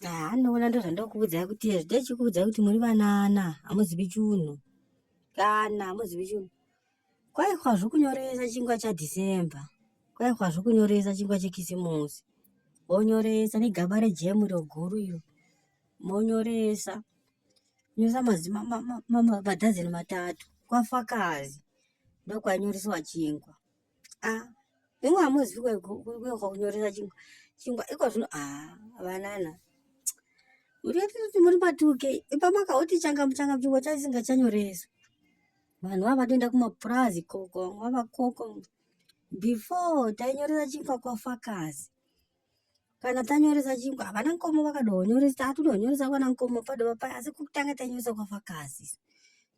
haa ndoona ndozvandokuudzai kuti zvidai chikuudzai kuti muri vanana hamuzivi chunhu kana hamuzivi chunhu kwaihwa zvokunyoresa chingwa chadhecember kwaihwa zvokunyoresa chingwa chekisimusi vonyoresa negaba rejemu iro guru iro monyoresa nyoresa madhazeni matatu kwafakazi ndokwainyoreswa chingwa ah imwe hamuzivi kwehoka kunyoresa chingwa chingwa iko zvino ah vanana muriatiti muri matuke ipamaka oti changamu changamu chingwa chaisinga chanyoreswa vanhu vava vatoenda kumapurazi koko vava koko before tainyoresa chingwa kwafakazi kana tanyoresa chingu havana nkomo vakadonyoresa hatudonyoresa kwana nkomo padova paya asi kutanga tanyoresa kwafakazi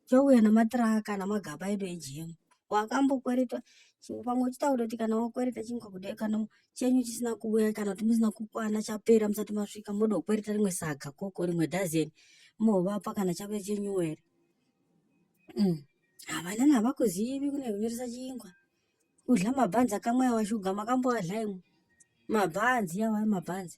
chouya namatraka namagaba edu ejemu wakambokweretwa chingu pamwe uchita kutoti kana wakwereta chingu kuda kana chenyu chisina kuuya kana kuti musina kukwana chapera musati masvika modokwereta rimwe saga koko rimwe dazeni movapa kana chave chenyuwere mm. havana navakuzivi kune kunyoresa chingwa Kudya mabhanzi akamwaya washuga makamboadya imwe mabhanzi awa mabhanzi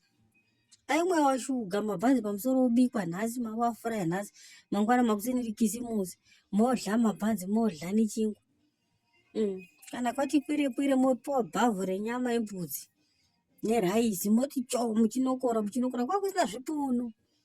aimwaya washuga mabhanzi pamusoro obikwa nhasi mawafuraya nhasi mangwana makuseni rikisimusi modya mabhanzi modya nechingwa mm. kana kwati kwire kwire mopiwa bhavhu renyama yembudzi neraisi moti cho muchinokora muchinokora kwakusina zvipunu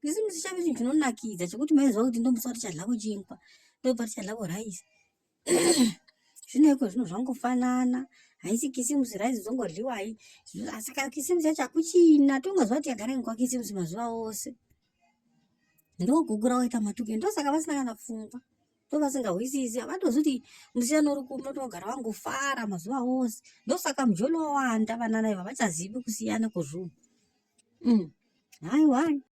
Kisimusi chave chinhu chinonakidza chekuti maiziva kuti ndomusi watichadlako chinkwa ndobva tichadlako rice zvino iko zvinhu zvangofanana haisi kisimusi rice zongodliwa hai asi kana kisimusi yacho hakuchina tongaziva kuti yagara ingwa kisimusi mazuva ose ndogugura waita matuke ndosaka vasina kana pfungwa ndovasingahwisisi havatozivi kuti musiyano uri kumu notogara vangofara mazuva ose ndosaka mujolo wawanda vanana iva vachazivi kusiyana kwezvunhu mm. haiwai